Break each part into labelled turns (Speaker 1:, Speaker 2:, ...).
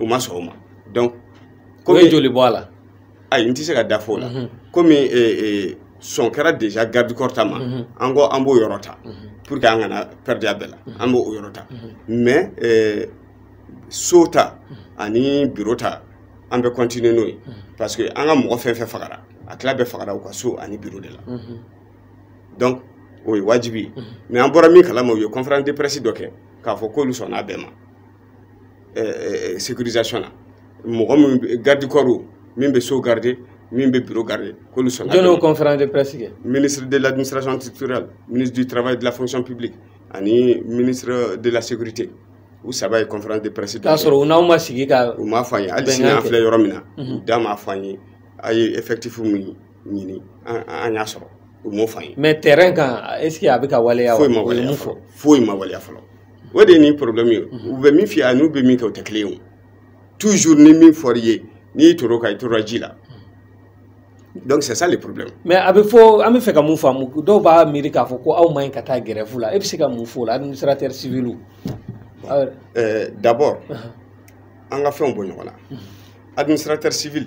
Speaker 1: u ma sɔn o ma donc k'o ye
Speaker 2: joli bɔ a la ayi n tɛ se ka
Speaker 1: da fɔ o la mhm. komi e, e, sɔn kɛra déjà garde corps ta ma mhm. an ko an b'o yɔrɔ ta mhm. pour que an kana perdre a bɛɛ la an b'o o yɔrɔ ta mais e, so ta ani bureau ta an bɛ continuer n'o ye parce que an ka mɔgɔ fɛn fɛn fagara a tila bɛɛ fagara u ka so ani bureau de la donc o ye wajibi ye mais an bɔra min kalama u ye conférence de presse dɔ kɛ k'a fɔ k'olu sɔnna a bɛɛ ma eh, eh, sécurisation na mɔgɔ min bɛ- garde corps o, min bɛ so garder min bɛ bureau garder k'olu sɔnna jɔn y'o conférence de presse
Speaker 2: kɛ ministre de l'administration
Speaker 1: territoriale ministre du travail et de la fonction publique ani ministre de la sécurité u saba ye conférence de presse dɔ kɛ k'a sɔrɔ u n'aw ma sigi ka
Speaker 2: u m'a fɔ an ye hali bɛnkan sini an
Speaker 1: kɛ. filɛ yɔrɔ min na u da m'a fɔ an ye an ye effectif min ɲini an y'a sɔrɔ u m'o fɔ an ye. mais terrain kan est ce
Speaker 2: que a bɛ ka waleya foyi ma waleya
Speaker 1: fɔlɔ foyi ma waleya fɔlɔ o de ye nin problème ye u bɛ min f'i ye n'u bɛ min kɛ o tɛ kelen ye o toujours ni min fɔr'i ye n'i tor'o kan i tora ji la. donc c'est ça le problème. mais a bɛ fɔ
Speaker 2: an bɛ fɛ ka mun faamu dɔw b'a miiri k'a fɔ ko aw man ɲi ka taa grève la e bɛ se ka mun f'o la administrateur civil.
Speaker 1: d'abord an ka fɛnw bɔ ɲɔgɔn na administrateur civil.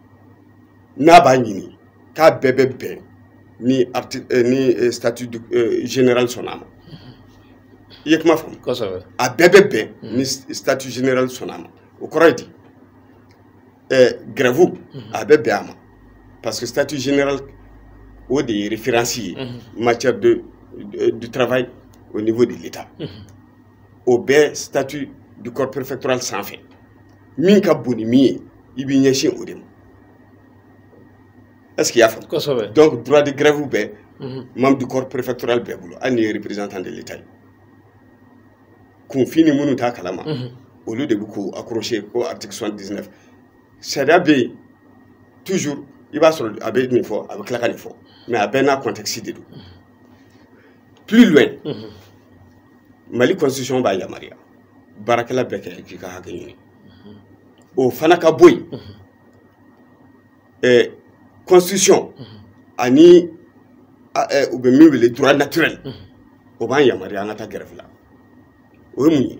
Speaker 1: n'a b'a ɲini k'a bɛɛ bɛ bɛn ni arti eh, ni eh, statut du- eh, général sɔnna a ma i ye kuma faamu kosɛbɛ a bɛɛ bɛ bɛn ni statut général sɔnna a ma o kɔrɔ ye di ɛɛ grève a bɛ bɛn a ma parce que statut général o de ye référence ye matière de de- du travail au niveau de l'état o bɛ statut du corps préfectoral sanfɛ min ka bon ni min ye i b'i ɲɛsin o de ma est ce que i y'a faamu kosɛbɛ donc droit de grève bɛ mhm. membre du corps préfectoral bɛɛ bolo hali n'i ye représentant de l'état ye kunfin ni minnu t'a kalama mhm. olu de bɛ k'u accrocher ko article 79 sariya bɛ yen toujours i b'a sɔrɔ a bɛ nin fɔ a bɛ tila ka nin fɔ mais a bɛɛ n'a contexte de don mhm. plus loin mhm. mali constitution b'a yamaruya baarakɛla bɛɛ k'i k'i ka hakɛ ɲini mhm. o fana ka bɔ yen mhm. eh, constitution ani eh, u bɛ min wele droit naturel o b'an yamaruya an ka taa grève la o ye mun ye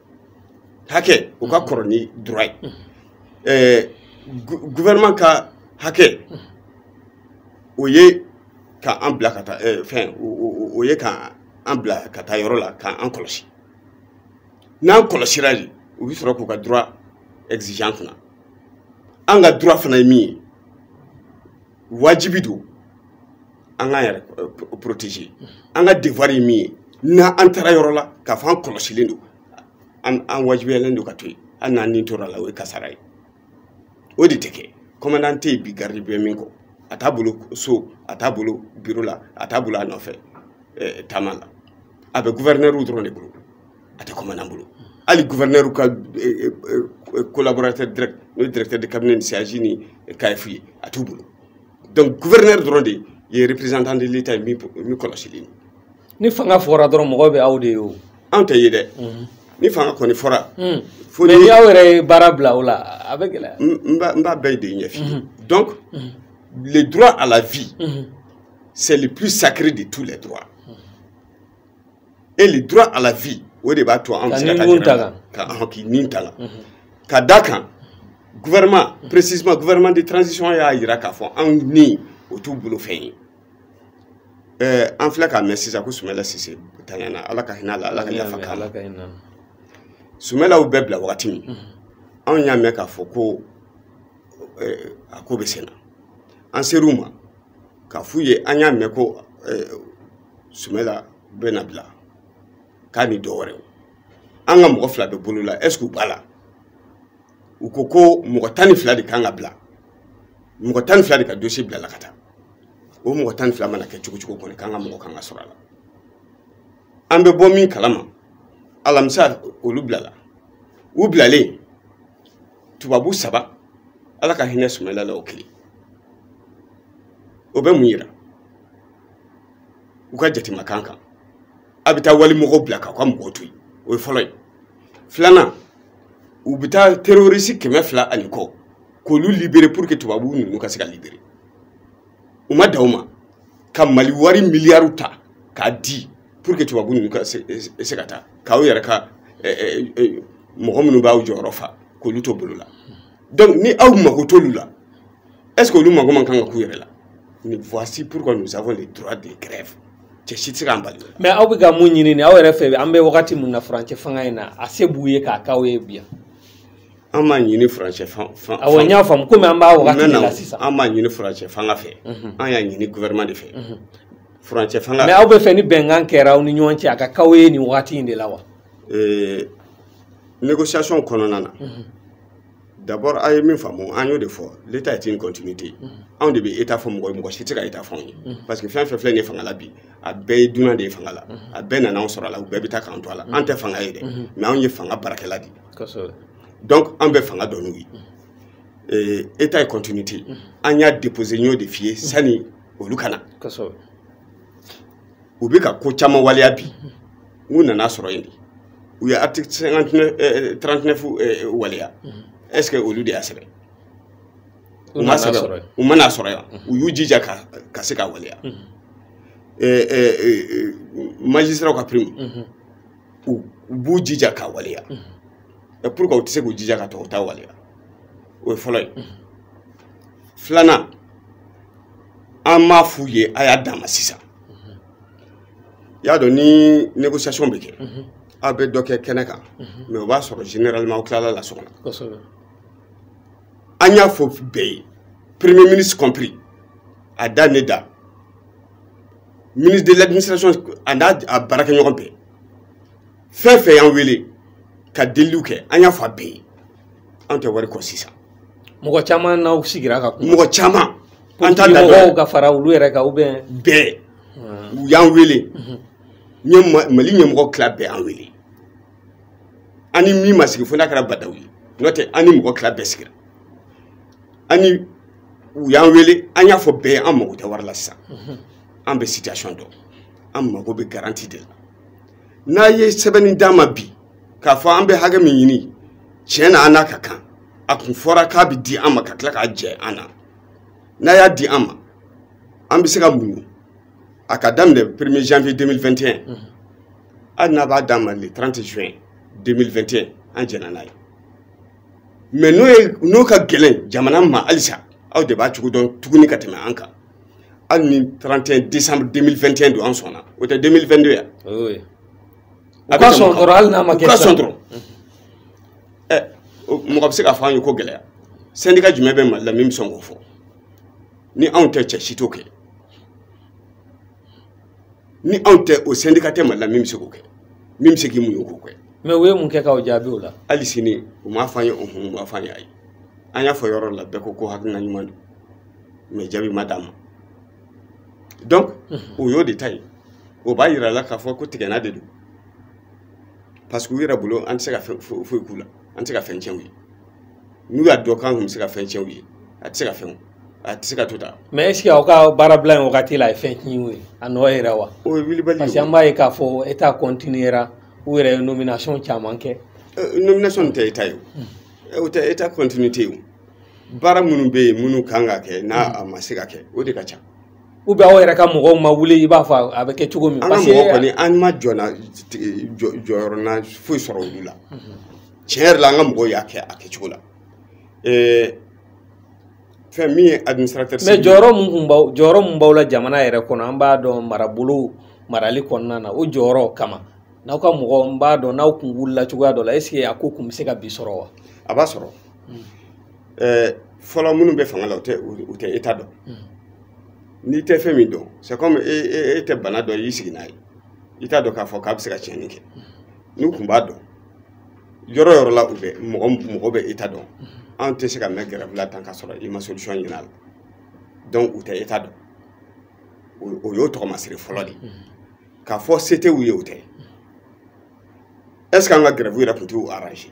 Speaker 1: hakɛ o ka kɔrɔ ni droit ye ɛɛ gouvernement ka hakɛ o ye ka an bila ka taa ɛɛ fɛn o ye ka an bila ka taa yɔrɔ la ka an kɔlɔsi n'an kɔlɔsira de u bɛ sɔrɔ k'u ka droit exiger an kunna an ka droit fana ye min ye wajibi don an k'an yɛrɛ euh, protéger an ka devoir ye min ye n'an an taara yɔrɔ la k'a fɔ an kɔlɔsilen don an an wajibiyalen don ka to yen hali n'an ni tora a la o ye kasara ye o de tɛ kɛ kɔmandan tɛ yen bi garidi bɛ min kɔ a t'a bolo so a t'a bolo biro la a t'a bolo a nɔfɛ eh, taama la a bɛ gouverneur dɔrɔn de bolo a tɛ kɔmandan bolo hali gouverneur ka eh, eh, collaborateur direct n'o ye directeur de cabinet ni CAAJ ni CAEF ye a t'u bolo donc gouverneur dɔrɔn de ye représentant de l'état ye min kɔlɔsilen don ni fanga
Speaker 2: fɔra dɔrɔn mɔgɔw bɛ aw de ye o an tɛ ye dɛ mhm.
Speaker 1: ni fanga kɔni fɔra mhm. mais ni aw
Speaker 2: yɛrɛ ye baara bila o la a bɛ gɛlɛya n b'a bɛɛ
Speaker 1: de ɲɛf'i ye mhm. donc le droit à la vie c'est le plus sacré de tous les droits et le droit à la vie o de b'a to an bɛ se ka taa ɲɛnama ka an k'i ni ta la mhm. ka d'a kan gouvernement mhm. précisément gouvernement de transition y'a jira k'a fɔ an ni o t'u bolo fɛn ye ɛɛ an filɛ k'a mɛn sisan ko sumɛla sise tanyana ala ka hinɛ a la ala ka yafa k'a ma sumɛlaw bɛ bila wagati min mhm. anw y'a mɛn k'a fɔ ko a ko bɛ sen na an ser'u ma k'a f'u ye an y'a mɛn ko sumɛla bɛna bila k'a ni dɔ wɛrɛ an ka mɔgɔ fila bɛ bolo la est ce que u b'a la u ko ko mɔgɔ tan ni fila de kan ka bila mɔgɔ tan ni fila de ka dossier bilala ka taa o mɔgɔ tan ni fila mana kɛ cogo cogo kɔni k'an ka mɔgɔ kan ka sɔrɔ a la an bɛ bɔ min kala ma alamisa olu bilala u bilalen tubabu saba ala ka hinɛ sumɛla la o kelen o bɛ mun yira u ka jate man kan kan aw bɛ taa wali mɔgɔw bila k'aw ka mɔgɔw to yen o ye fɔlɔ ye filanan u bɛ taa terorisi kɛmɛ fila ani kɔ k'olu libere pour que tubabu ninnu ka se ka libere u ma dan o ma ka mali wari miliyariw ta k'a di pour que tubabu ninnu ka se ka taa k'aw yɛrɛ ka mɔgɔ minnu b'aw jɔyɔrɔ fa k'olu to bolo la donc ni aw mago t'olu la est ce que olu mago man kan ka k'u yɛrɛ la ni voici pourquoi nous avons le droit de grève cɛ si tɛ se k'an bali mais aw bɛ ka mun ɲini
Speaker 2: nin aw yɛrɛ fɛ an bɛ wagati min na furancɛ fanga in na a se b'u ye k'a k'aw ye bi yan an m'a
Speaker 1: ɲini furancɛ fanga awɔ n y'a faamu komi
Speaker 2: an b'a wagati de la sisan an m'a ɲini furancɛ
Speaker 1: fanga fɛ an y'a ɲini gouvernement de fɛ furancɛ fanga mais aw b'a fɛ ni
Speaker 2: bɛnkan kɛra aw ni ɲɔgɔn cɛ a ka k'aw ye nin wagati in de la wa
Speaker 1: négociation kɔnɔna na d'abord a ye min faamu an y'o de fɔ l'état est une continuité anw de bɛ état fɔ mɔgɔ ye mɔgɔ si tɛ se ka état fɔ anw ye parce que fɛn fɛn filɛ nin ye fanga la bi a bɛɛ ye dunan de ye fanga la a bɛɛ nana anw sɔrɔ a la u bɛɛ bɛ taa k'an to a la an tɛ fanga ye dɛ mais anw ye fanga baarakɛla de ye donc an bɛ fanga dɔn n'u ye état ye continuité an y'a déposé n y'o de f'i ye sani olu ka na u bɛ ka ko caman waleya bi u nana a sɔrɔ yen de u ye article cinquante neuf eh, eh, trente neuf eh, waleya est ce que olu de y'a sɛbɛn u m'a sɛbɛn u ma n'a sɔrɔ yan u y'u jija ka ka se k'a waleya magistratw ka prime u b'u jija k'a waleya pourquoi u tɛ se k'u jija ka tɔw ta waleya o ye fɔlɔ ye filanan an m'a f'u ye a y'a d'an ma sisan i y'a dɔn ni négociation bɛ kɛ aw bɛ dɔ kɛ kɛnɛ kan mais o b'a sɔrɔ généralement aw tilala a la so kɔnɔ an y'a fɔ bɛɛ ye premier ministre compris a da ne da ministre de l'administration a n'a baarakɛɲɔgɔn bɛɛ fɛn fɛn y'an wele ka deliliw kɛ an y'a fɔ a bɛɛ ye an tɛ wari kɔ sisan mɔgɔ
Speaker 2: caman n'aw sigira ka kuma mɔgɔ caman
Speaker 1: an t'a da mɔgɔw
Speaker 2: ka fara olu yɛrɛ kan ou bien bɛɛ
Speaker 1: u y'an wele mali ɲɛmɔgɔ tila bɛɛ y'an wele an ni min ma sigi fo n'a kɛra bah n'daw ye n'o tɛ an ni mɔgɔ tila bɛɛ sigira ani u y'an wele an y'a fɔ bɛɛ ye an mago tɛ wari la sisan an bɛ situation dɔn an mago bɛ garantie de la n'a ye sɛbɛnni d'an ma bi k'a fɔ an bɛ hakɛ min ɲini tiɲɛ na an n'a ka kan a kun fɔra k'a bɛ di an ma ka tila k'a jɛ an na n'a y'a di an ma an bɛ se ka muɲu a ka daminɛ premier janvier 2021 mhm. hali n'a b'a d'an ma le 30 juin 2021 an jɛna n'a ye mais n'o ye n'o ka gɛlɛn jamana ma halisa aw de b'a cogo dɔn tuguni ka tɛmɛ an kan hali ni 31 décembre 2021 don an sɔnna o tɛ 2022
Speaker 2: yan u ka sɔn dɔrɔn hali n'a ma kɛ u ka sɔn dɔrɔn
Speaker 1: ɛ mɔgɔ bɛ se k'a fɔ an ye ko gɛlɛya syndicat jumɛn bɛ mali la min bɛ sɔn k'o fɔ ni anw tɛ cɛ si t'o kɛ ni anw tɛ o syndicat tɛ mali la min bɛ se k'o kɛ min bɛ se k'i muɲu k'o kɛ mais u ye mun kɛ k'anw
Speaker 2: jaabi o la hali sini u m'a
Speaker 1: fɔ an ye u m'a fɔ an ye ayi an y'a fɔ yɔrɔ la bɛɛ ko ko hakilina ɲuman don mais jaabi ma d'a ma donc o y'o de ta ye o b'a yira la k'a fɔ ko tigɛna de don parce que u yɛrɛ bolo an tɛ se ka foyi k'u la an tɛ se ka fɛn tiɲɛ u ye n'u y'a dɔn k'an tun bɛ se ka fɛn tiɲɛ u ye a tɛ se ka fɛn a tɛ se ka to tan mais est ce que aw
Speaker 2: ka baarabila in wagati la a ye fɛn tiɲɛ u ye a nɔ yɛrɛ wa o ye wulibali ye parce que an
Speaker 1: b'a ye k'a fɔ
Speaker 2: état continuera u yɛrɛ ye nomination caman kɛ nomination tɛ
Speaker 1: état ye o tɛ état continuité ye o baara minnu bɛ yen minnu kan ka kɛ n'a a ma se ka kɛ o de ka ca ou bien
Speaker 2: aw yɛrɛ ka mɔgɔw ma wuli i b'a fɔ a bɛ kɛ cogo min an ka mɔgɔ kɔni an
Speaker 1: ma jɔna jɔyɔrɔna foyi sɔrɔ olu la tiɲɛ yɛrɛ la an ka mɔgɔw y'a kɛ a kɛcogo la fɛn min ye administrateur mais jɔyɔrɔ mun
Speaker 2: kun b'aw jɔyɔrɔ mun b'aw la jamana yɛrɛ kɔnɔ an b'a dɔn marabolo marali kɔnɔna na o jɔyɔrɔ kama n'aw ka mɔgɔ n b'a dɔn n'aw kun wulila cogoya dɔ la est ce que a ko kun bɛ se ka bi sɔrɔ wa a b'a sɔrɔ
Speaker 1: ɛɛ fɔlɔ minnu bɛ fanga la u tɛ u tɛ état dɔn n'i tɛ fɛn min dɔn c'est comme e e e tɛ bana dɔn i y'i sigi n'a ye i t'a dɔn k'a fɔ k'a bɛ se ka tiɲɛni kɛ n'u kun b'a dɔn yɔrɔ yɔrɔ la u bɛ mɔgɔ mɔgɔ bɛ état dɔn an tɛ se ka mɛn grève la tan k'a sɔrɔ i ma solution ɲini a la donc u tɛ état dɔn o y'o tɔgɔmasiri fɔlɔ de ye k'a fɔ se tɛ u ye o tɛ est ce que an ka grève yɛrɛ tun t'u arrange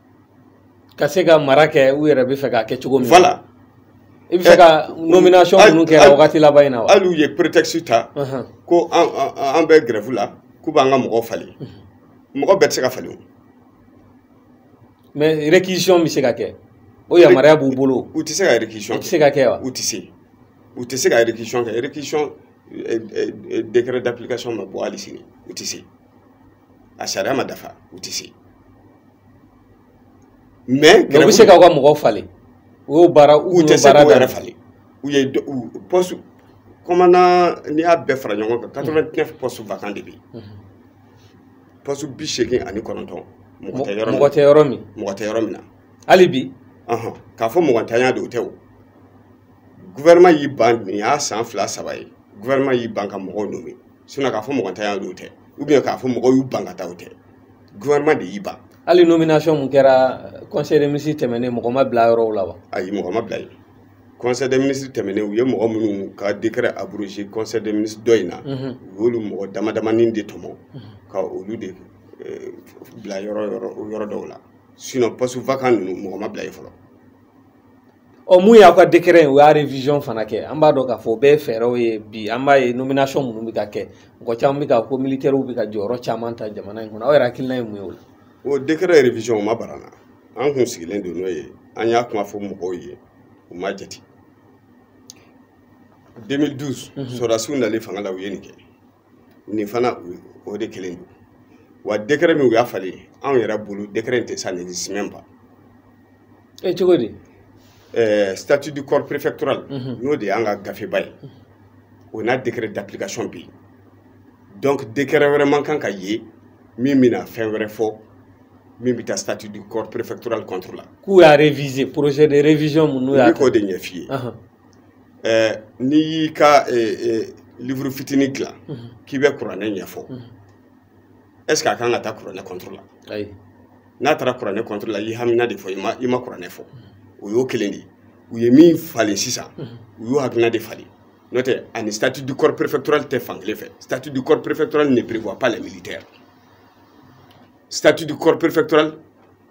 Speaker 2: ka se ka mara kɛ u yɛrɛ bɛ fɛ k'a kɛ cogo min voilà
Speaker 1: i bɛ fɛ
Speaker 2: ka nomination ninnu kɛ wagati laban in na wa hali u ye prétexte ta
Speaker 1: ko an bɛ grève la k'u b'an ka mɔgɔw falen mɔgɔ bɛɛ tɛ se ka falen o
Speaker 2: mais réquisition bɛ se ka kɛ o yamaruya b'u bolo u tɛ se ka réquisition kɛ
Speaker 1: u tɛ se ka kɛ wa u tɛ se u tɛ se ka réquisition kɛ réquisition décret d'application ma bɔ hali sini u tɛ se a sariya ma dafa u tɛ se mais u bɛ se k'aw ka
Speaker 2: mɔgɔw falen u y'o baara u tɛ se k'u yɛrɛ falen
Speaker 1: u ye poste commandant n'i y'a bɛɛ fara ɲɔgɔn kan quatre vingt neuf postes vacants de bɛ yen poste bi seegin ani kɔnɔntɔn mɔgɔ tɛ yɔrɔ min mɔgɔ tɛ yɔrɔ min mɔgɔ tɛ yɔrɔ min na hali
Speaker 2: bi k'a fɔ
Speaker 1: mɔgɔntanya de o tɛ o gouvernement y'i ban nin y'a san fila saba ye gouvernement y'i ban ka mɔgɔw nommé sinon k'a fɔ mɔgɔntanya de o tɛ ou bien k'a fɔ mɔgɔw y'u ban ka taa o tɛ gouvernement de y'i ban hali nomination
Speaker 2: mun kɛra conseil des ministres tɛmɛnen mɔgɔ ma bila yɔrɔw la wa ayi mɔgɔ ma bila yen
Speaker 1: conseil des ministres tɛmɛnen u ye mɔgɔ minnu ka décret abrogé conseil des ministres dɔ in na mhm. u y'olu mɔgɔ damadamanin de tɔmɔ mhm. ka olu de eh, bila yɔrɔ yɔrɔ yɔrɔ dɔw la sinon postes vacants ninnu mɔgɔ ma bila yen fɔlɔ
Speaker 2: ɔ mun y'aw ka décret u y'a révision fana kɛ an b'a dɔn k'a fɔ o bɛɛ ye fɛɛrɛw ye bi an b'a ye nomination minnu bɛ ka kɛ mɔgɔ caman bɛ ka ko militaires bɛ ka jɔyɔrɔ caman ta jamana in kɔnɔ aw yɛrɛ hakilina ye mun ye o la. o
Speaker 1: décret révision o ma bara an na an kun sigilen don n'o ye an y'a kuma fɔ mɔgɔw ye u ma jate 2012 sɔrɔdasiw nalen fanga la u ye nin kɛ. nin fana o de kelen don wa décret min u y'a falen anw yɛrɛ bolo décret in tɛ ça n'existe même pas e
Speaker 2: cogo di eh,
Speaker 1: statut du corps préfectoral mhm. n'o de y'an ka gafeba ye o n'a décret d'application bɛ yen donc décret wɛrɛ man kan ka ye min bɛna fɛn wɛrɛ fɔ min bɛ taa statut du corps préfectoral contre la k'u y'a réviser
Speaker 2: projet de révision min u y'a kɛ n bɛ k'o de ɲɛf'i ye
Speaker 1: n'i y'i ka livre fitinin dilan k'i bɛ kuranɛ ɲɛfɔ est-ce que a kan ka taa kuranɛ contre la
Speaker 2: n'a taara
Speaker 1: kuranɛ contre la i hamina de fɔ i ma kuranɛ fɔ o y'o kelen de ye u ye min falen sisan u y'o hakilina de falen n'o tɛ a ni statut du corps préfectoral tɛ fan kelen fɛ statut du corps préfectoral ne prévoit pas les militaires statut du corps préfectoral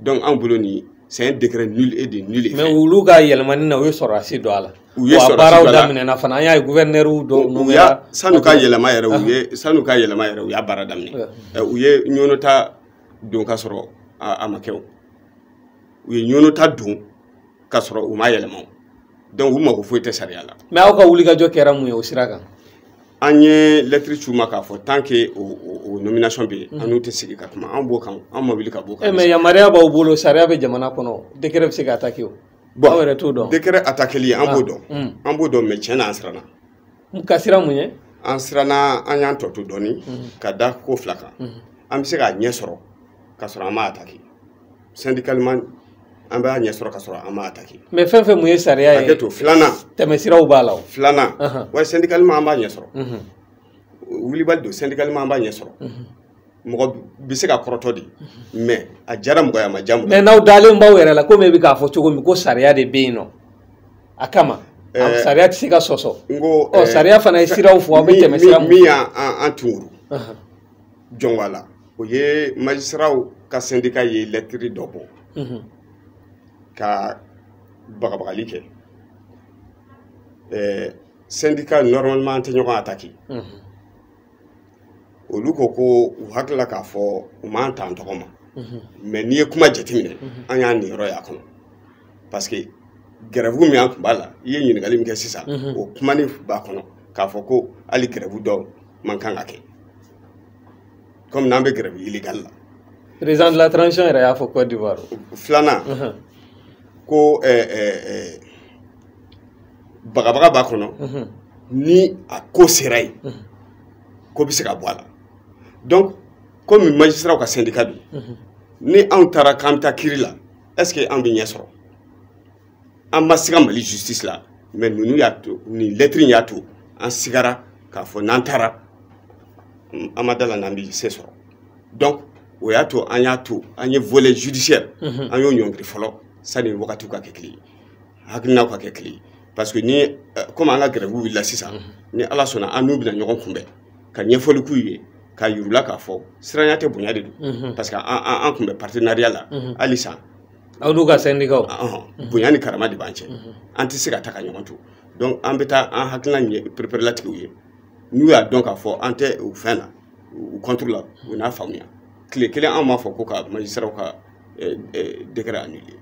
Speaker 1: donc anw bolo nin c'est un décret nul et de nul effet mais olu ka
Speaker 2: yɛlɛmani na u ye sɔrɔdasi don a la u ye sɔrɔdasi baaraw
Speaker 1: daminɛna fana an y'a
Speaker 2: ye gouverneur dɔw nommera san'u ka yɛlɛma yɛrɛ
Speaker 1: u ye ah. san'u ka yɛlɛma yɛrɛ u ye baara daminɛ eh, u ye ɲɔnɔta don ka sɔrɔ a ma kɛ o u ye ɲɔnɔta don ka sɔrɔ u ma yɛlɛma donc u mako foyi tɛ sariya la mais aw ka wulikajɔ
Speaker 2: kɛra mun ye o sira kan an
Speaker 1: ye lettre ci u ma k'a fɔ tant que o, o, o nomination bɛ yen mm. an n'u tɛ sigi ka kuma an b'o kan an ma wuli ka b'o kan eh, mais yamaruya b'aw bolo
Speaker 2: sariya bɛ jamana kɔnɔ décret bɛ se ka attaquer o bon aw yɛrɛ t'o dɔn décret attaqueli an
Speaker 1: b'o ah. dɔn mm. an b'o dɔn mais tiɲɛ na an siranna ka
Speaker 2: siran mun ye an siranna
Speaker 1: an y'an tɔ to dɔɔni mm. ka da ko fila kan an bɛ se k'a ɲɛ sɔrɔ ka sɔrɔ an m'a attaquer syndicalement an b'a ɲɛ sɔrɔ ka sɔrɔ an m'a attaquer mais fɛn fɛn mun ye
Speaker 2: sariya ye hakɛto filanan
Speaker 1: tɛmɛsiraw b'a la
Speaker 2: o filanan wa
Speaker 1: syndicalement an b'a ɲɛ sɔrɔ wulibali don syndicalement an b'a ɲɛ sɔrɔ mɔgɔ bɛ se ka kɔrɔtɔ de mais a diyara mɔgɔ ye a ma diya mɔgɔ ye mais n'aw dalen b'aw
Speaker 2: yɛrɛ la komi e bɛ k'a fɔ cogo min ko sariya de bɛ yen nɔ a kama sariya tɛ se ka sɔsɔ n ko sariya fana ye siraw fɔ aw bɛ tɛmɛ sira min min y'an an
Speaker 1: tunguru jɔnwa la o ye magistrats ka syndicat ye lettre dɔ bɔ mhm. ka bagabagali kɛ eh, syndicat normalement an tɛ ɲɔgɔn attaquer mhm. olu ko ko u hakili la k'a fɔ u m'an ta an tɔgɔ ma mhm. mais n'i ye kuma jateminɛ an y'an niyɔrɔ y'a kɔnɔ parce que grève min an tun b'a la i ye ɲininkali min kɛ sisan o kumani b'a kɔnɔ k'a fɔ ko hali grève dɔw man kan ka kɛ kɔmi n'an bɛ grève illégale la président
Speaker 2: de la transition yɛrɛ y'a fɔ côte d'ivoire filanan
Speaker 1: ko eh, eh, eh, bagabaga b'a kɔnɔ ni a ko sera yen ko bɛ se ka bɔ a la donc komi magistratw ka sendika don ni anw taara k'an bɛ taa kiri la est ce que an bɛ ɲɛ sɔrɔ an ma siga mali justice la mais ninnu y'a to nin lɛtiri y'a to an sigara k'a fɔ n'an taara an ma da la n'an bɛ se sɔrɔ donc o y'a to an y'a to an ye volet judiciaire mhm. an y'o ɲɔngiri fɔlɔ sani wagatiw ka kɛ kelen ye hakilinaw ka kɛ kelen ye parce que ni euh, comme an ka grève wulila sisan mhm. ni ala sɔnna an n'u bɛna ɲɔgɔn kunbɛn ka ɲɛfɔli k'u ye ka yir'u la k'a fɔ siranya tɛ bonya de don mhm. parce que an kun bɛ partenariat la halisa anw n'u
Speaker 2: ka sendikaw bonya ni
Speaker 1: karama de b'an cɛ an tɛ se ka taa ka ɲɔgɔn to donc an bɛ taa an hakilina ɲɛ pereperelatigɛ u ye n'u y'a dɔn k'a fɔ an tɛ u fɛn na u kɔnturu la u n'a faamuya tile kelen an m'a fɔ ko ka magistratw ka décret annulé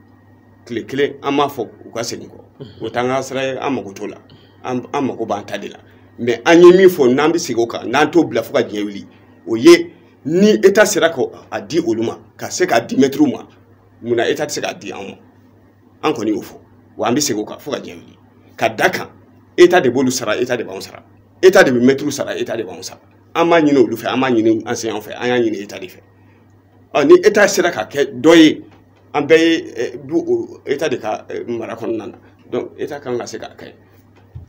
Speaker 1: tile kelen an m'a fɔ u ka segin kɔ o t'an ka sira ye an mago t'o la an mago b'an ta de la mais an ye min fɔ n'an bɛ segin o kan n'an t'o bila fo ka diɲɛ wuli o ye ni eta sera k'a di olu ma ka se k'a di mɛtiriw ma mun na eta tɛ se k'a di anw ma an kɔni y'o fɔ wa an bɛ segin o kan fo ka diɲɛ wuli ka da kan eta de b'olu sara eta de b'anw sara eta de bɛ mɛtiriw sara eta de b'anw sara an m'a ɲini olu fɛ an m'a ɲini enseignantw fɛ an y'a ɲini eta de fɛ ɔ ni eta sera ka kɛ dɔ ye an bɛɛ ye eh, du o eta de ka eh, mara kɔnɔna na donc eta kan ka se k'a kɛ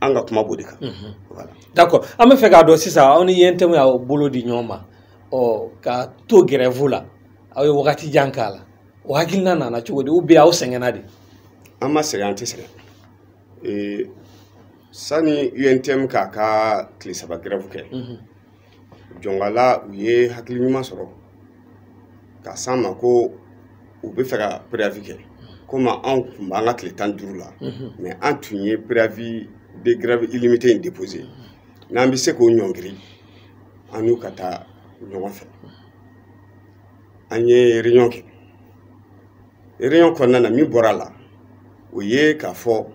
Speaker 1: an ka kuma b'o de kan mhm. voilà d'accord an bɛ fɛ
Speaker 2: k'a dɔn sisan aw ni untm y'aw bolo di ɲɔgɔn ma ɔ ka to grève la aw ye wagati jan k'a la o hakilina nana cogo di ou bien aw sɛgɛnna de an ma sɛgɛn
Speaker 1: an tɛ sɛgɛn ee, sani untm k'a ka tile saba grève kɛ mhm. jɔnkala u ye hakili ɲuman sɔrɔ ka s'an ma ko u bɛ fɛ ka préavis kɛ komi anw tun b'an ka tile tan duuru la mais mhm. an tun ye préavis de grève illimité in déposé mhm. n'an bɛ se k'o ɲɔngiri an n'u ka taa ɲɔgɔn fɛ an ye réunion kɛ réunion kɔnɔna na min bɔra la o ye k'a fɔ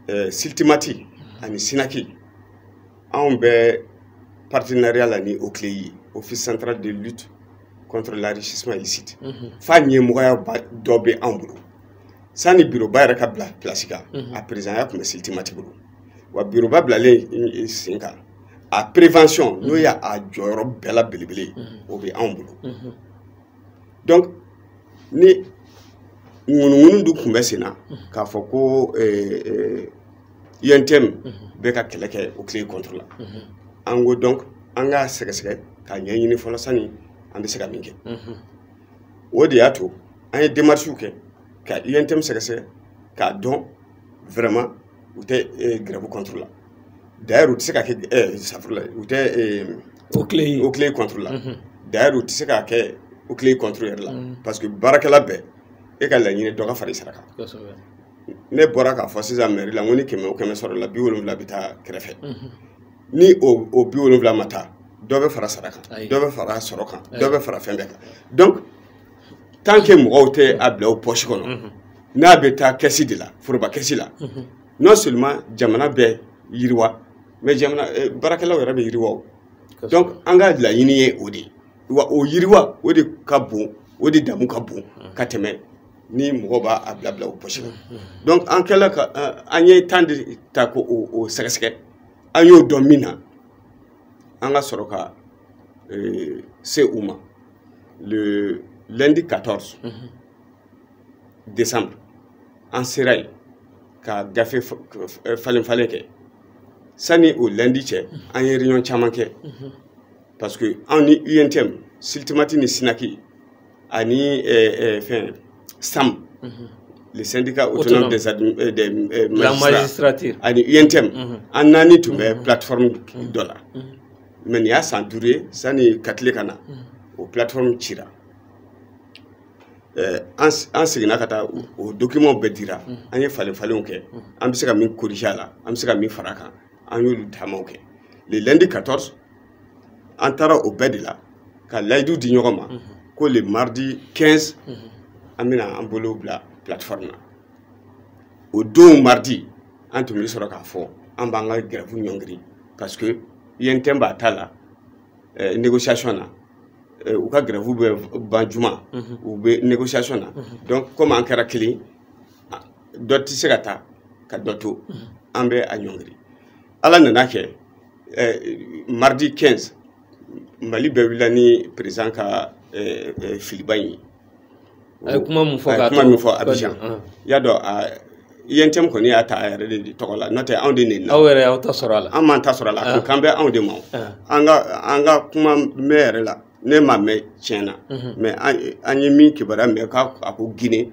Speaker 1: eh, syltmat ani synac anw bɛ partenariat la ni oclei ye office central de lutte contre l'enrichissement illicite f'a ɲɛmɔgɔya ba- dɔ bɛ anw bolo sanni biroba yɛrɛ ka bila pilasi kan a perezidanya tun bɛ syltmat bolo wa biroba bilalen sen kan a prévention n'o y'a jɔyɔrɔ bɛɛ la belebele ye o bɛ anw bolo donc ni ŋunuŋunu dun tun bɛ sen na k'a fɔ ko UNTM bɛ ka kɛlɛ kɛ OCLEI contre la an ko donc an k'a sɛgɛsɛgɛ k'a ɲɛɲini fɔlɔ sani an bɛ se ka min kɛ o de y'a to an ye démarches kɛ ka UNTM sɛgɛsɛgɛ k'a dɔn vraiment u tɛ grève contre la d'ailleurs u tɛ se ka kɛ safurula u tɛ OCLEI OCLEI contre la d'ailleurs u tɛ se ka kɛ OCLEI contre yɛrɛ la parce que baarakɛla bɛɛ e ka laɲini dɔ ka fara i sara kan ne bɔra k'a fɔ sisan mɛri la n ko ni kɛmɛ o kɛmɛ sɔrɔla bi wolonwula bɛ taa kɛrɛfɛ ni o bi wolonwula ma taa dɔ bɛ fara sara kan dɔ bɛ fara sɔrɔ kan dɔ bɛ fara fɛn bɛɛ kan donc tant que mɔgɔw tɛ a bila o pɔsi kɔnɔ n'a bɛ taa kɛsi de la foroba kɛsi la non seulement jamana bɛ yiriwa mais jamana eh, baarakɛlaw yɛrɛ bɛ yiriwa o donc an ka laɲini ye o de ye wa o yiriwa o de ka bon o de damu ka bon ka tɛmɛ ni mɔgɔ b'a a bila bila o pɔsi la donc an kɛla ka eh, an ye temps de ta k'o sɛgɛsɛgɛ an y'o dɔn min na an ka sɔrɔ ka eh, se u ma le lundi 14 décembre an sera yen ka gafe falen falen kɛ sani o lundi cɛ an ye réunion caman kɛ parce que anw ni UNTM SYLTMAT ni SYNAC ani fɛn SAM le syndicat autonome des, euh, des euh, magistrats ani UNTM an naani tun bɛ plateforme dɔ la mais nin y'a san duuru ye sani Katile ka na o plateforme cira Eh, an seginna ka taa o dokimanw bɛɛ dira mm. an ye falen falenw kɛ mm. an bɛ se ka min korije a la an bɛ se ka min fara a kan an y'olu taamaw kɛ le lundi 14 an taara o bɛɛ de la ka layidu di ɲɔgɔn ma mm-hmm. ko le mardi 15 mm-hmm. an bɛna an bolo bila plateforme na o don mardi an tun bɛ sɔrɔ k'a fɔ an b'an ka grève ɲɔngiri parce que UNTM b'a ta la eh, négociation na eh, u ka grève bɛ ban juma mhm. u bɛ négociation na mhm. donc comme an kɛra kelen dɔ tɛ se ka taa ka dɔ to mhm. an bɛ a ɲɔngiri ala nana kɛ eh, mardi 15 Mali bɛɛ wulila ni président ka filiba in ye a ye
Speaker 2: kuma mun fɔ k'a kuma min fɔ
Speaker 1: abijan i y'a dɔn UNTM kɔni y'a ta a yɛrɛ de tɔgɔ la n'o tɛ anw de nin na aw yɛrɛ y'aw ta sɔrɔ a la an
Speaker 2: m'an ta sɔrɔ a la a kan
Speaker 1: bɛ anw de ma an ka an ka kuma mɛn yɛrɛ la ne m'a mɛn tiɲɛ na mais an ye min kibaruya mɛn k'a a ko Guinée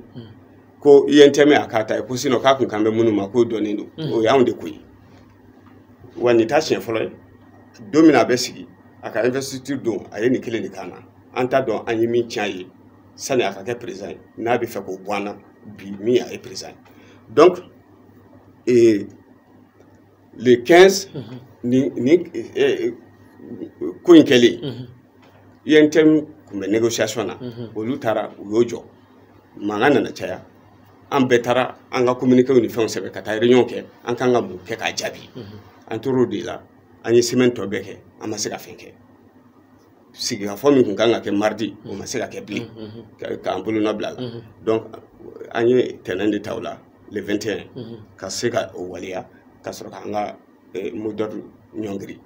Speaker 1: ko UNTM a k'a ta ye ko sinon k'a kun kan bɛ minnu ma k'o dɔnnen don o y'anw de ko ye wa nin t'a siɲɛ fɔlɔ ye don min na a bɛ sigi a ka investiture don a ye nin kelen de k'an na an t'a dɔn an ye min tiɲɛ ye sani a ka kɛ président ye n'a bɛ fɛ k'o bɔ an na bi min a ye président ye donc eh, le 15 mm -hmm. ni, ni eh, eh, ko in kɛlen mm -hmm. UNTM tun bɛ négociation na mm -hmm. olu taara u y'o jɔ mankan nana caya an bɛɛ taara an ka communiquéw ni fɛnw sɛbɛn ka taa réunion kɛ an kan ka mun kɛ k'a jaabi mm -hmm. an tor'o de la an ye semaine tɔ bɛɛ kɛ an ma se ka fɛn kɛ sigikafɔ min tun kan ka kɛ mardi o ma se ka kɛ bilen k'an bolonɔ bila la donc an ye tɛnɛn de ta o la le 21 ka se ka o waleya ka sɔrɔ k'an ka mot d'ordre ɲɔngiri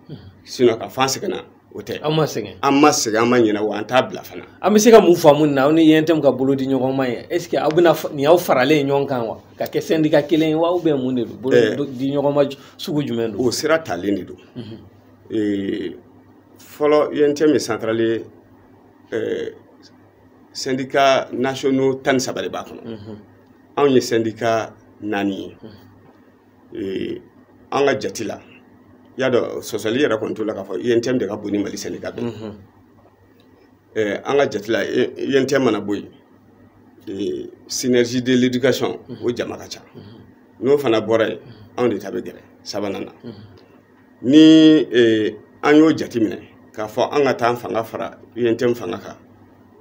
Speaker 1: sinon k'a f'an sɛgɛnna o tɛ an ma sɛgɛn an
Speaker 2: ma sɛgɛn an ma
Speaker 1: ɲinɛ wa an t'a bila fana an bɛ se ka mun
Speaker 2: faamu nin na aw ni UNTM ka bolo di ɲɔgɔn ma ye est ce que aw bɛna nin y'aw faralen ɲɔgɔn kan wa ka kɛ syndicat kelen ye wa ou bien mun de don bolo di ɲɔgɔn ma sugu jumɛn don o sira talen de don
Speaker 1: fɔlɔ UNTM ye centrale ye euh, syndicat nationaux tan ni saba de b'a kɔnɔ mhm. anw ye syndicat naani ye mhm. euh, an ka jati la i y'a dɔn sɔsɔli yɛrɛ kɔni t'o la k'a fɔ UNTM de ka bon ni Mali syndicat bɛɛ mhm. euh, an ka jati la UNTM mana bɔ yen synergie de l'éducation o jama ka ca n'o fana bɔra yen anw de ta bɛ gɛrɛ sabanan na ni eh, an y'o jateminɛ k'a fɔ an ka taa an fanga fara UNTM fanga kan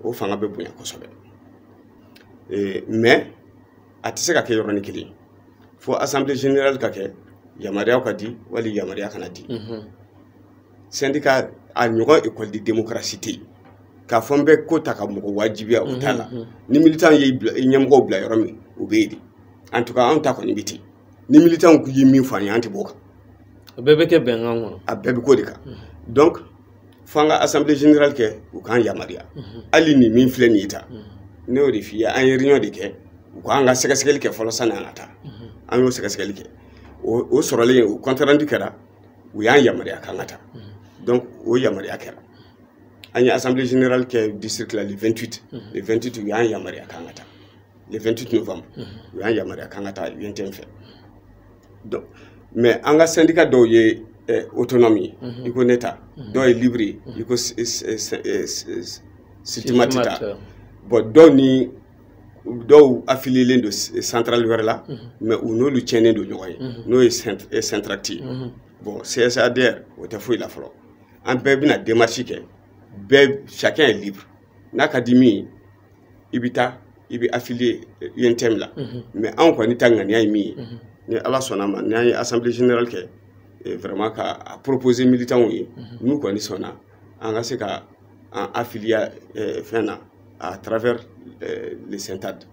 Speaker 1: o fanga bɛ bonya kosɛbɛ eh, mais a tɛ se ka kɛ yɔrɔnin kelen fo assemblée générale ka kɛ yamaruyaw ka di wali yamaruya kana di mhm. syndicat a ɲɔgɔn école de démocratie tɛ yen k'a fɔ n bɛ ko ta ka mɔgɔ wajibiya o t'a la mhm, mhm. ni militant ye ɲɛmɔgɔw bila yɔrɔ min u bɛ yen de en tout cas anw ta kɔni bɛ ten ni militants ye min fɔ an ye an tɛ b'o kan a bɛɛ bɛ
Speaker 2: kɛ bɛnkan kɔnɔ a bɛɛ bɛ k'o de
Speaker 1: kan donc f'an ka assemblée générale kɛ u k'an yamaruya hali nin min filɛ nin ye tan ne y'o de f'i ye an ye réunion de kɛ u k'an ka sɛgɛsɛgɛli kɛ fɔlɔ sani an ka taa an y'o sɛgɛsɛgɛli kɛ o o sɔrɔlen o compte rendu kɛra u y'an yamaruya k'an ka taa donc o yamaruya kɛra an ye assemblée générale kɛ district la le 28 le 28 u y'an yamaruya k'an ka taa le 28 novembre u y'an yamaruya k'an ka taa UNTM fɛ donc mais an ka syndicat dɔw ye eh, autonome ye i ko ne ta dɔw ye libre ye i ko s- s- s- s- s- SYLTMAT ta SYLTMAT, euh. bon dɔw ni dɔw affilielen don s- centrale wɛrɛ la mais u n'olu tiɲɛnen don ɲɔgɔn ye n'o ye cent- eh, SYNTRACT ye bon CSADR o tɛ foyi la fɔlɔ an bɛɛ bɛna demarche kɛ bɛɛ chacun est libre n'a ka di min ye i bɛ taa i bɛ affilier UNTM la mais anw kɔni ta ŋaniya ye min ye ni Ala sɔnn'a ma n'an ye assemblée générale kɛ eh, vraiment ka a proposer militants ye n'u kɔni sɔnna an ka se ka an affilier eh, fɛn na à travers eh, le SYNTADE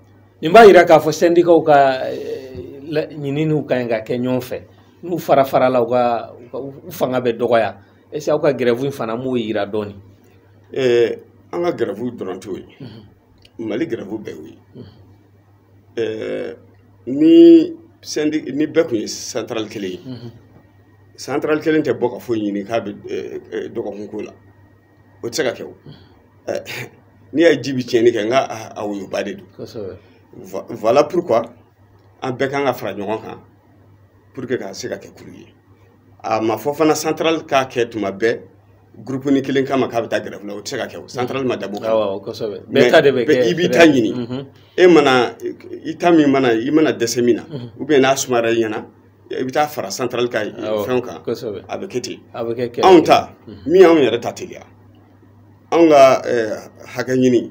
Speaker 1: nin b'a yira
Speaker 2: k'a fɔ sɛndikaw ka eh, la- ɲininiw ka ɲi ka kɛ ɲɔgɔn fɛ n'u farafarala u ka u ka- u fanga bɛ dɔgɔya est-ce que aw ka grève in fana m'o yira dɔɔni
Speaker 1: eh, an ka grève dɔrɔn t'o ye mhm. Mali grève bɛɛ y'o ye mhm. eh, ni sendi ni bɛɛ kun ye centrale kelen ye mhm. centrale kelen tɛ bɔ ka foyi ɲini k'a bɛ eh, dɔgɔkun ko la o tɛ se ka kɛ o n'i y'a ye ji bɛ tiɲɛni kɛ n k'a woyoba de don voilà pourquoi an bɛɛ kan ka fara ɲɔgɔn kan pour que ka se ka kɛ kulu ye a ma fɔ fana centrale k'a kɛ tuma bɛɛ gurupunin kelen kama k'a bɛ taa grève la o tɛ se ka kɛ o centrale ma dabɔ o kama mais ta de bɛ kɛ i b'i ta ɲini mhm. e mana i ta min mana i mana dɛsɛ min na mhm. ou bien n'a sumayara i ɲɛna i bɛ taa fara centrale ka fɛnw kan a bɛ kɛ ten anw ta mhm. min y'anw yɛrɛ ta teliya anw ka eh, hakɛ ɲini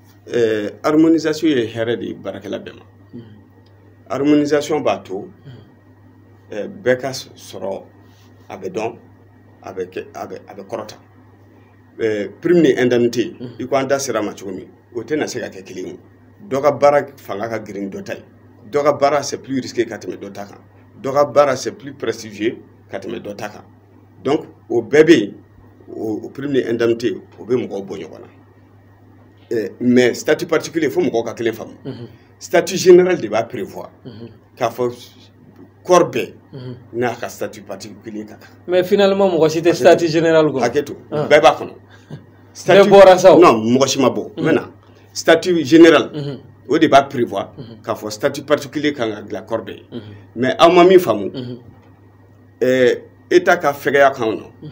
Speaker 2: ɛɛ harmonisation
Speaker 1: ye hɛrɛ de ye baarakɛla bɛɛ ma harmonisation b'a to ɛɛ bɛɛ ka sɔrɔ a bɛ dɔn a bɛ kɛ a bɛ a bɛ kɔrɔta ɛɛ prime ni indemnité i ko an da sera a ma cogo min o tɛna se ka kɛ kelen ye dɔ ka baara fanga ka girin dɔ ta ye dɔ ka baara c'est plus risqué ka tɛmɛ dɔ ta kan dɔ ka baara c'est plus prestigieux ka tɛmɛ dɔ ta kan donc o bɛɛ bɛ yen o prime ni indemnité o bɛ mɔgɔw bɔ ɲɔgɔn na eh, mais statut particulier fo mɔgɔw ka kelen faamu mhm. statut général de b'a prévoir mhm. k'a fɔ corps bɛɛ mhm. n'a ka statut particulier ka kan mais finalement mɔgɔ si
Speaker 2: tɛ statut général kɔnɔ hakɛ to ah. bɛɛ b'a kɔnɔ
Speaker 1: bɛɛ
Speaker 2: bɔra sa o non mɔgɔ si ma bɔ
Speaker 1: maintenant statut général o de b'a prévoir k'a fɔ statut particulier kan ka dilan corps bɛɛ ye mais aw ma min faamu eh, état ka fɛgɛya kan o nɔ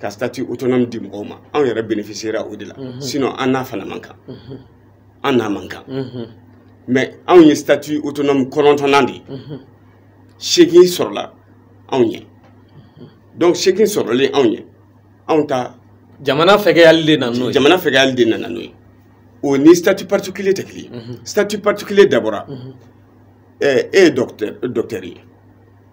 Speaker 1: ka statut autonome di mɔgɔw ma anw yɛrɛ bénéficiera o de la mhm. sinon an n'a fana man kan mhm. an n'a man kan mhm. mais anw ye statut autonome kɔnɔntɔnnan de ye seegin sɔrɔla anw ɲɛ donc seegin sɔrɔlen anw ɲɛ anw ta jamana
Speaker 2: fɛgɛyali de nana n'o ye jamana fɛgɛyali de nana n'o
Speaker 1: ye o ni statut particulier tɛ kelen ye statut particulier dabɔra e ye docteur ye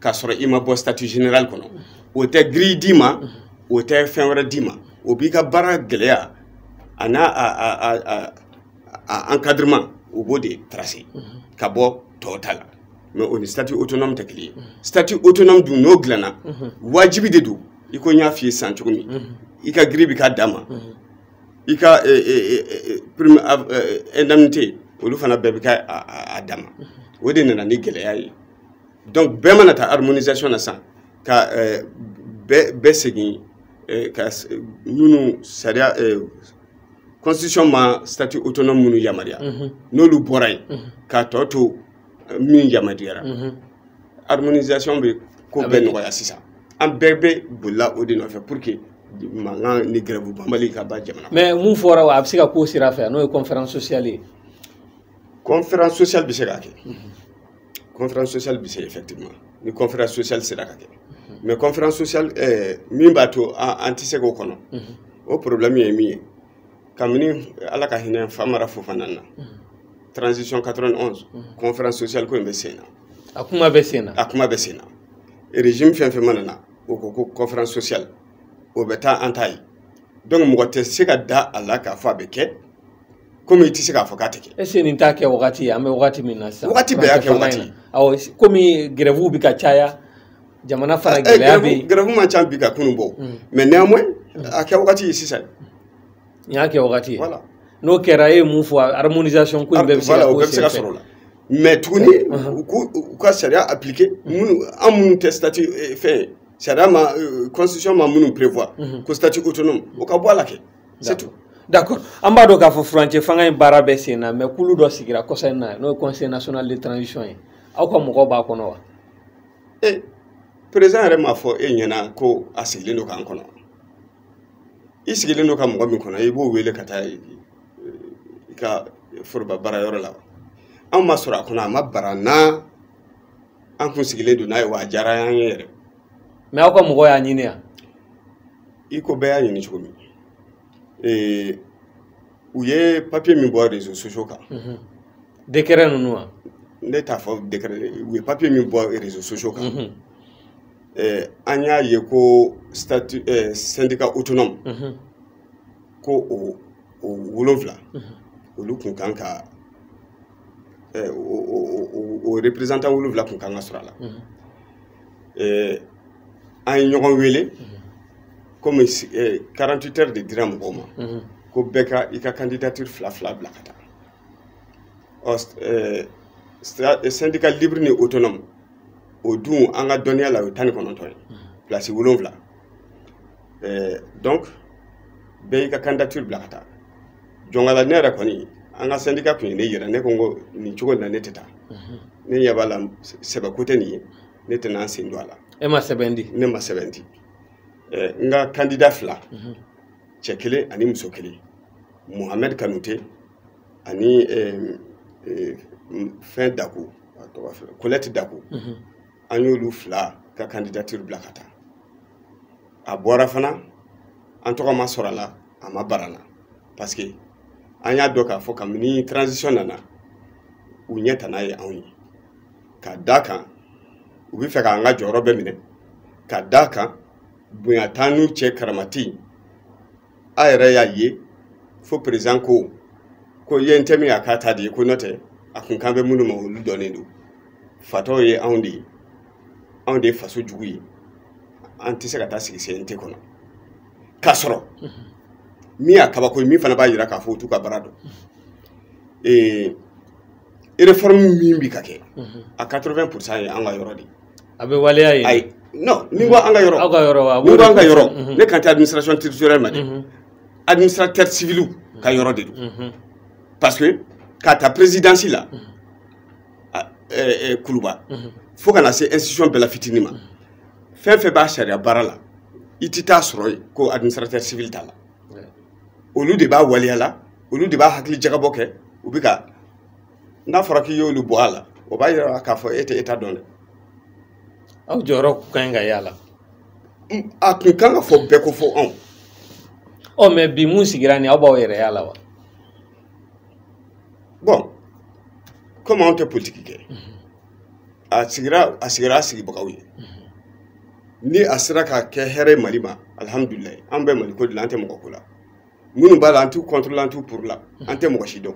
Speaker 1: k'a sɔrɔ i ma bɔ statut général kɔnɔ o tɛ grille d'i ma o tɛ fɛn wɛrɛ d'i ma o b'i ka baara gɛlɛya a n'a a a a a a encadrement o b'o de tracer ka bɔ tɔw ta la mais o ni statut autonome tɛ kelen ye statut autonome dun n'o dilanna wajibi de don i ko n y'a f'i ye sisan cogo min i ka grille bɛ k'a dan ma i ka eh, eh, eh, prime av- eh, indemnité olu fana bɛɛ bɛ kɛ a- a a dan ma o de nana ni gɛlɛya ye donc bɛɛ mana taa harmonisation na sisan ka eh, bɛɛ segin eh, ka minnu sariya eh, constitution ma statut autonome minnu yamaruya mhm. n'olu bɔra yen mhm. k'a tɔ to min yamaruyara mhm. harmonisation bɛ ko bɛɛ nɔgɔya sisan an bɛɛ bɛ bolila o de nɔfɛ pour que mankan ni grève banbali ka ban jamana mais mun fɔra wa a bɛ se
Speaker 2: ka k'o sira fɛ n'o ye conférence sociale ye
Speaker 1: conférence sociale bɛ se k'a kɛ conférence sociale bɛ se effectivement ni conférence sociale sera ka kɛ mhm. mais conférence sociale eh, min b'a to an tɛ se k'o kɔnɔ mhm. o problème ye min ye kabini ala ka hinɛ famara fofana na mhm. transition 91 conférence sociale ko in bɛ sen na a kuma bɛ
Speaker 2: sen na a kuma bɛ sen
Speaker 1: na régime fɛn fɛn mana na o ko ko conférence sociale o bɛ taa an t'a ye donc mɔgɔ tɛ se ka da a la k'a fɔ a bɛ kɛ komi i tɛ se k'a fɔ k'a tɛ kɛ. est ce que nin t'a kɛ
Speaker 2: wagati ye an bɛ wagati min na sisan. wagati bɛɛ y'a kɛ wagati
Speaker 1: ye. awɔ
Speaker 2: komi grève bɛ ka caya jamana fana eh, eh, gɛlɛya bɛ yen. grève man ca bi ka kunun bɔ.
Speaker 1: Hmm. mais néanmoins hmm. a kɛ wagati ye sisan. nin y'a
Speaker 2: kɛ wagati ye. voilà n'o
Speaker 1: kɛra e
Speaker 2: ye mun fɔ harmonisation ko in bɛɛ bɛ se ka k'o senfɛ. sɔrɔ o la.
Speaker 1: mais tuguni uh-huh. u k'u u ka sariya appliquer hmm. minnu an minnu tɛ statut eh, fɛn sariya ma constitution ma minnu prévoir ko statut autonome o ka bɔ a la kɛ. d'accord an
Speaker 2: b'a dɔn k'a fɔ furancɛ fanga in baara bɛ sen na mais kulu dɔ sigira kɔsa in na n'o ye conseil national de transition ye aw ka mɔgɔw b'a kɔnɔ wa e président
Speaker 1: yɛrɛ m'a fɔ e ɲɛna ko a sigilen don k'an kɔnɔ i sigilen don ka mɔgɔ min kɔnɔ i b'o wele ka taa i ka foroba baara yɔrɔ la anw ma sɔrɔ a kɔnɔ a ma bar'an na an kun sigilen don n'a ye wa a diyara an ye yɛrɛ mais aw ka
Speaker 2: mɔgɔ y'a ɲini yan
Speaker 1: i ko bɛɛ y'a ɲini cogo min ee u ye papiye min bɔ rezo sosiyo kan dekɛrɛ
Speaker 2: ninnu wa ne t'a fɔ
Speaker 1: dekɛrɛ u ye papiye min bɔ rezo sosiyo kan mhm. eh, an y'a ye ko statut eh, syndicat autonome mhm. ko o o wolonfila mhm. olu kun kan ka o reprezantan wolonfila kun kan ka sɔrɔ a la an ye ɲɔgɔn wele komi 48 heures de dira mɔgɔw ma ko bɛɛ ka i ka kandidatiri fila fila bila ka taa ɔ sɛndika libiri ni otonɔmu o dun an ka dɔnniya la o ye tan ni kɔnɔntɔn ye pilasi wolonfila eh, donc bɛɛ y'i ka candidature bila ka taa jɔnkala ne yɛrɛ kɔni an ka sɛndika kun ye ne yira ne ko n ko nin cogo in na ne tɛ taa mhm. ne ɲɛ b'a la sɛbɛ ko tɛ nin ye ne tɛna n sen don a la e ma sɛbɛn di
Speaker 2: ne ma sɛbɛn
Speaker 1: di eh, nka kandida fila mhm. cɛ kelen ani muso kelen mohamɛd kanute ani eh, fɛn daku kolɛti daku mhm. an y'olu fila ka kandidatiri bila ka taa a bɔra fana an tɔgɔ ma sɔrɔ a la a ma bara n na parce que an y'a dɔn k'a fɔ kabini transition nana u ɲɛtana ye anw ye ka d'a kan u bɛ fɛ k'an ka jɔyɔrɔ bɛɛ minɛ ka d'a kan bonya t'an n'u cɛ karama tɛ a yɛrɛ y'a ye fo président ko ko UNTM y'a k'a ta de ye ko n'o tɛ a kun kan bɛ minnu ma olu dɔnnen don fatɔw ye anw de ye anw de ye faso jugu ye an tɛ se ka taa sigi CNT kɔnɔ k'a sɔrɔ min y'a kabako ye min fana b'a jira k'a fɔ u t'u ka baara dɔn ee réforme min bi ka kɛ a 80 pourcent ye an ka yɔrɔ de a bɛ waleya
Speaker 2: ye ayi non ni n
Speaker 1: ko an ka yɔrɔ aw ka yɔrɔ wa ni n ko an ka
Speaker 2: yɔrɔ
Speaker 1: ne kan tɛ administration territoriale ma dɛ administrateur civil ka yɔrɔ de don parce que k'a ta présidence la kuluba fo ka na se institution bɛɛ la fitini ma fɛn fɛn b'a sariya baara la i tɛ t'a sɔrɔ yen ko administrateur civil t'a la olu de b'a waleya la olu de b'a hakili jagabɔ kɛ u bɛ ka n'a fɔra k'i y'olu bɔ a la o b'a yira k'a fɔ e tɛ État dɔn
Speaker 2: dɛ aw jɔyɔrɔ ka ɲi ka y'a la a
Speaker 1: tun kan ka fɔ bɛɛ kɔ fo anw ɔ
Speaker 2: mɛ bi mun sigira nin aw b'aw yɛrɛ y'a la
Speaker 1: wa bɔn komi anw tɛ politiki kɛ a sigira a sigira a sigibagaw ye ni a sera ka kɛ hɛrɛ ye mali ma alihamudulilayi an bɛ mali ko de la an tɛ mɔgɔ ko la minnu b'a la an t'u contre la an t'u pour la an tɛ mɔgɔ si
Speaker 2: dɔn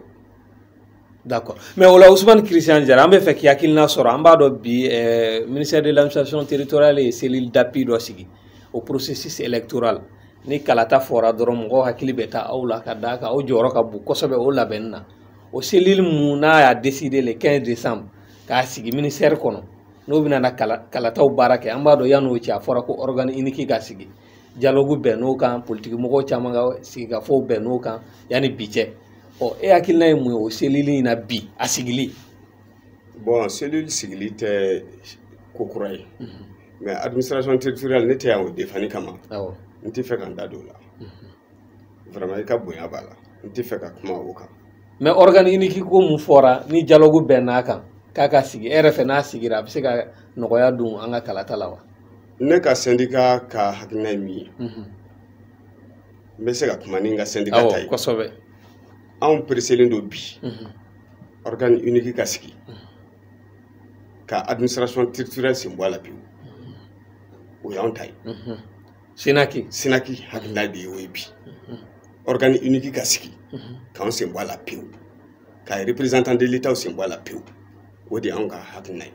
Speaker 2: D'accord. Mais o la Ousmane Christian Diarra, an bɛ fɛ k'i hakilina sɔrɔ an b'a dɔn bi eh, ministère de l'administration territoriale ye cellule d'appui dɔ sigi au processus électoral ni kalata fɔra dɔrɔn mɔgɔw hakili bɛ taa aw la ka d'a kan aw jɔyɔrɔ ka bon kosɛbɛ o labɛnni na o cellule mun n'a y'a décidé le 15 décembre k'a sigi ministère kɔnɔ n'o bɛna na kala kalataw baara kɛ an b'a dɔn yann'o cɛ a fɔra ko organe unique ka sigi dialogue bɛnn'o kan politiki mɔgɔw caman ka sigikafɔw bɛnn'o kan yanni bi cɛ ɔ e hakilina ye mun ye o cellule in na bi a sigili
Speaker 1: bon cellule sigili tɛ ko kura ye mais administration territoriale ne tɛ yan o defani kama n tɛ fɛ ka n da don o la vraiment i ka bonya b'a la n tɛ fɛ ka kuma o kan mais organe
Speaker 2: unique ko mun fɔra ni dialogue bɛnn'a kan k'a ka sigi e yɛrɛ fɛ n'a sigira a bɛ se ka nɔgɔya don an ka kalata la wa ne ka sendika
Speaker 1: ka hakilina ye min ye mhm. n bɛ se ka kuma ni n ka sendika ta ye
Speaker 2: kosɛbɛ
Speaker 1: anw pereselen don bi organe mhm. unique ka sigi mhm. ka administration territoriale sen bɔ a la pewu o y'anw ta ye SYNAC SYNAC hakilina de y'o ye bi organe unique ka sigi k'an sen bɔ a la pewu ka représentant de l'État sen bɔ a la pewu o de y'anw ka hakilina ye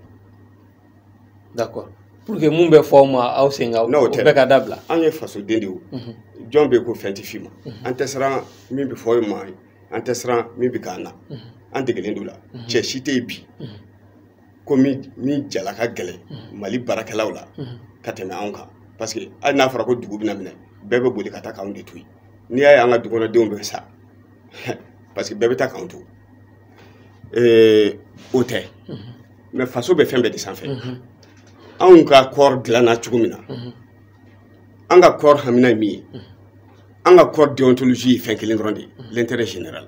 Speaker 2: d'accord pour que mun bɛ fɔ aw ma aw sen ka o bɛɛ ka dabila an ye fasoden de
Speaker 1: ye jɔn bɛ ko fɛn tɛ f'i ma an tɛ siran min bɛ fɔ an ma an tɛ siran min bɛ k'an na an degelen don la cɛ si tɛ yen bi ko min jala ka gɛlɛn mali baarakɛlaw la ka tɛmɛ anw kan parce que hali n'a fɔra ko dugu bɛna minɛ bɛɛ bɛ boli ka taa k'anw de to yen n'i y'a ye an ka dukɔnɔdenw bɛ sa parce que bɛɛ bɛ taa k'anw to o tɛ mais faso bɛ fɛn bɛɛ de sanfɛ anw ka corps dilanna cogo min na an ka corps hamina ye min ye an ka corps déontologie ye fɛn kelen dɔrɔn de ye l'intérêt général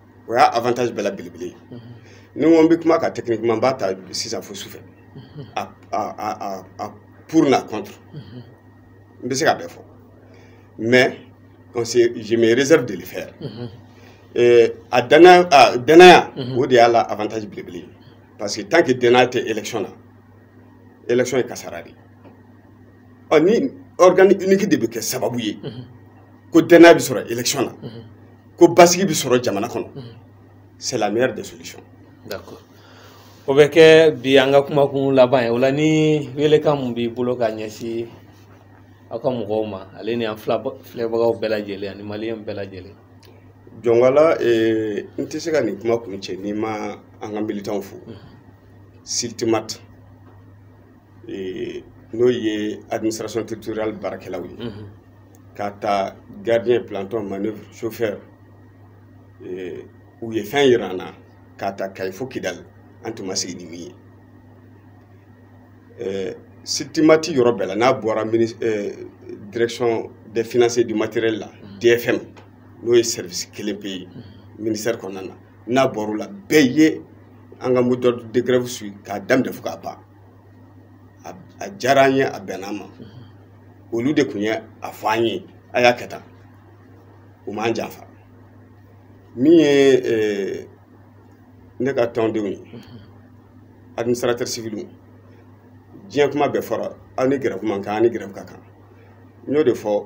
Speaker 1: o y'a avantage bɛɛ la belebele ye ni n ko n bɛ kuma ka techniquement n b'a ta sisan fo sufɛ a a a a pour n'a contre n bɛ se ka bɛɛ fɔ mais on se je me réserve de le faire euh, a danaya a danaya o de y'a la avantage belebele ye parce que tant que danaya tɛ élection na élection ye kasara de ye ɔ ni organe unique de bɛ kɛ sababu ye ko danaya bɛ sɔrɔ élection na. ko basigi bɛ sɔrɔ jamana kɔnɔ mhm. c'est la meilleure des solutions
Speaker 2: d'accord o bɛ kɛ bi an ka kumakun laban ye o la ni welekan mun b'i bolo ka ɲɛsin aw ka mɔgɔw ma ale ni an filɛbagaw bɛɛ lajɛlen ani maliyɛn bɛɛ lajɛlen
Speaker 1: jɔnkala eh, n tɛ se ka nin kuma kuncɛ ni n ma an ka militanw fo mhm. SYLTMAT n'o ye administration territoriale baarakɛlaw ye k'a ta gardien planton manœuvre chauffeur u ye fɛn yira an na k'a ta kayi fo kidali an tun ma sigi ni min ye sitimati yɔrɔ bɛɛ la n'a bɔra direction des finances et du matériel la dfm n'o ye service kelen pe ye ministère kɔnɔna na n'a bɔr'o la bɛɛ ye an ka mot d'ordre de grève suit k'a daminɛ fo k'a ban a diyara an ye a bɛnna an ma olu de tun ye a fɔ an ye a y'a kɛ tan u m'an janfa min ye ne ka tɔndenw ye administrateur civil diɲɛ kuma bɛɛ fɔra aw ni grève man kan aw ni grève ka kan n y'o de fɔ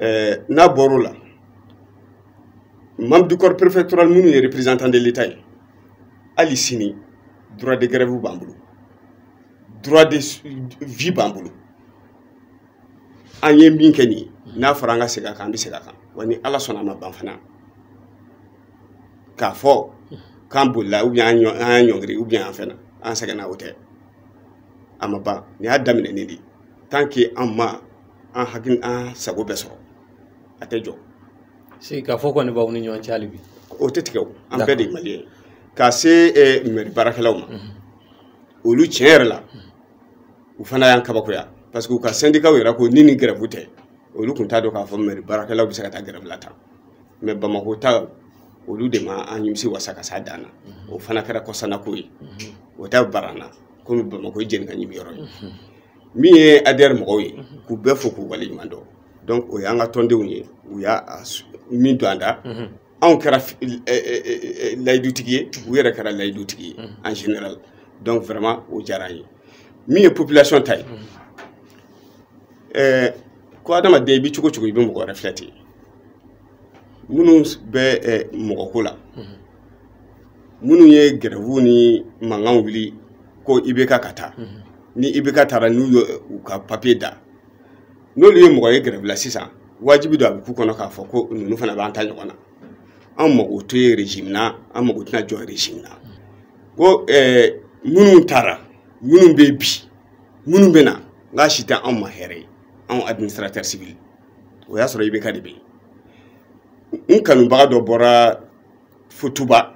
Speaker 1: ɛɛ n'a bɔr'o la membre du corps préfectoral minnu ye représentant de l'état ye hali sini droit de grève b'an bolo droit de vie b'an bolo an ye min kɛ nin ye n'a fɔra an ka segin a kan an bɛ segin a kan wa ni ala sɔnna a ma ban fana k'a fɔ k'an bolila ou bien an y'a ɲɔngiri ou bien an fɛnna an sɛgɛnna o tɛ a ma ban nin y'a daminɛnen de ye tant que an ma an hakili an sago bɛɛ sɔrɔ a tɛ jɔ sigikafɔ
Speaker 2: kɔni b'aw ni ɲɔgɔn cɛ hali bi o tɛ tigɛ o an
Speaker 1: bɛɛ de ye mali ye ka se eh, mairie baarakɛlaw ma mhm. olu tiɲɛ yɛrɛ la u fana y'an kabakoya parce que u ka syndicat yɛrɛ ko ni nin grève tɛ olu tun t'a dɔn k'a fɔ mairie baarakɛlaw bɛ se ka taa grève la tan mais bamako ta olu de ma an nimisi wasa ka s'a dan na mhm. o fana kɛra kɔsanako ye mhm. o tɛ bala an na komi bamakɔ ye jeni ka ɲimi yɔrɔ ye min ye adr mɔgɔw ye k'u bɛɛ fo k'u waleɲuman dɔn donc o y'an ka tɔndenw ye u y'a min don an da anw kɛra layidutigi ye u yɛrɛ kɛra layidutigi ye en général donc vraiment o diyara an ye min ye population ta ye ɛɛ ko adamaden i bɛ cogo o cogo i bɛ mɔgɔ wɛrɛ filɛ ten minnu bɛ mɔgɔko la minnu ye grève nin mankan wuli ko ibk ka taa mhm. ni ibk taara n'u ye u ka papiye da n'olu ye mɔgɔ ye grève la sisan wajibi don a bɛ k'u kɔnɔ k'a fɔ ko ninnu fana b'an ta ɲɔgɔn na an mago to ye régime na an mago tɛna jɔ régime na ko eh, minnu taara minnu bɛ bi minnu bɛ na n k'a si tɛ anw ma hɛrɛ ye anw administrateur civil o y'a sɔrɔ ibk de bɛ yen n kanubaga dɔ bɔra futuba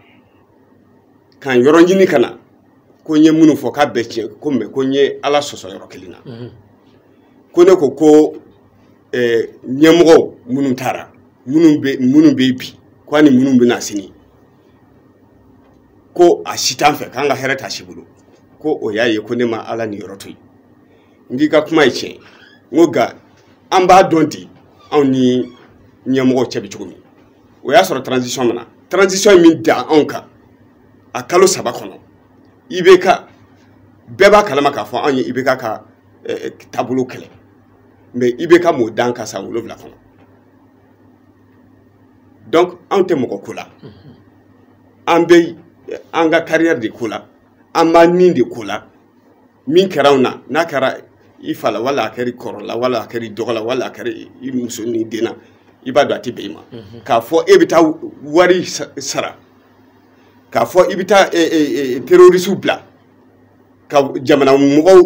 Speaker 1: k'an yɔrɔ ɲini ka na ko n ye minnu fɔ k'a bɛɛ tiɲɛ ko mais ko n ye ala sɔsɔ yɔrɔ kelen na mhm. ko ne ko ko eh, ɲɛmɔgɔw minnu taara minnu bɛ minnu bɛ bi ko ani minnu bɛ na sini ko a si t'an fɛ k'an ka hɛrɛ t'a si bolo ko o y'a ye ko ne ma ala niyɔrɔ to yen n k'i ka kuma ye tiɲɛ n ko nka an b'a dɔn ten anw ni ɲɛmɔgɔw cɛ bɛ cogo min o y'a sɔrɔ transition min na transition in min da anw kan a kalo saba kɔnɔ IBK bɛɛ b'a kalama k'a fɔ anw ye IBK ka eh, taabolo kɛlɛ mais IBK m'o d'an kan san wolonwula kɔnɔ donc anw tɛ mɔgɔ ko la an bɛ an ka carrière de ko la an b'an ni de ko la min kɛra anw na n'a kɛra i fa la wala a kɛra i kɔrɔ la wala a kɛra i dɔgɔ la wala a kɛra i muso ni den na i b'a dɔn a tɛ bɛn i ma mhm. k'a fɔ e bɛ taa wari sara k'a fɔ i bɛ taa e, e, e, terorisiw bila ka jamana mɔgɔw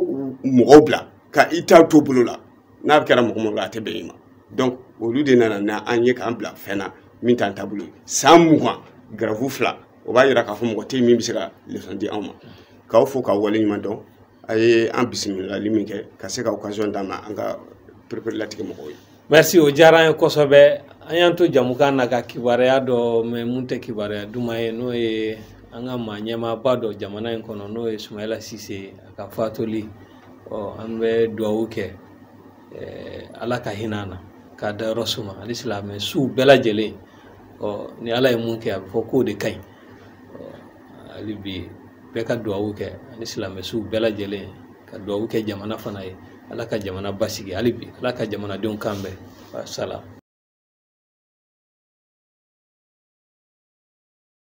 Speaker 1: mɔgɔw bila ka i ta to bolo la n'a bɛ kɛra mɔgɔ mɔgɔ a tɛ bɛn i ma donc olu de nana n'an ye k'an bila fɛn na min t'an taabolo ye san mugan grève fila o b'a yira k'a fɔ mɔgɔ tɛ min bɛ se ka leçon di anw ma k'aw fo k'aw wale ɲuman dɔn a ye an bisimilali min kɛ ka se ka occasion d'an ma an ka pereperelatigɛ mɔgɔw ye merci o diyara an ye
Speaker 2: kosɛbɛ an y'an to jɛmukan na ka kibaruya dɔ mɛn mun tɛ kibaruya duman ye n'o ye an ka maa ɲɛmaaba dɔ jamana in kɔnɔ n'o ye sumayila sise a ka fatuli ɔ an bɛ duwawu kɛ ala ka hinɛ a la k'a dayɔrɔ suma ani silamɛ suw bɛɛ lajɛlen ɔ ni ala ye mun kɛ a bɛ fɔ k'o de ka ɲi hali bi bɛɛ ka duwawu kɛ ani silamɛsuw bɛɛ lajɛlen ka duwawu kɛ jamana fana ye ala ka jamana basigi hali bi ala ka jamanadenw kan bɛn wasalam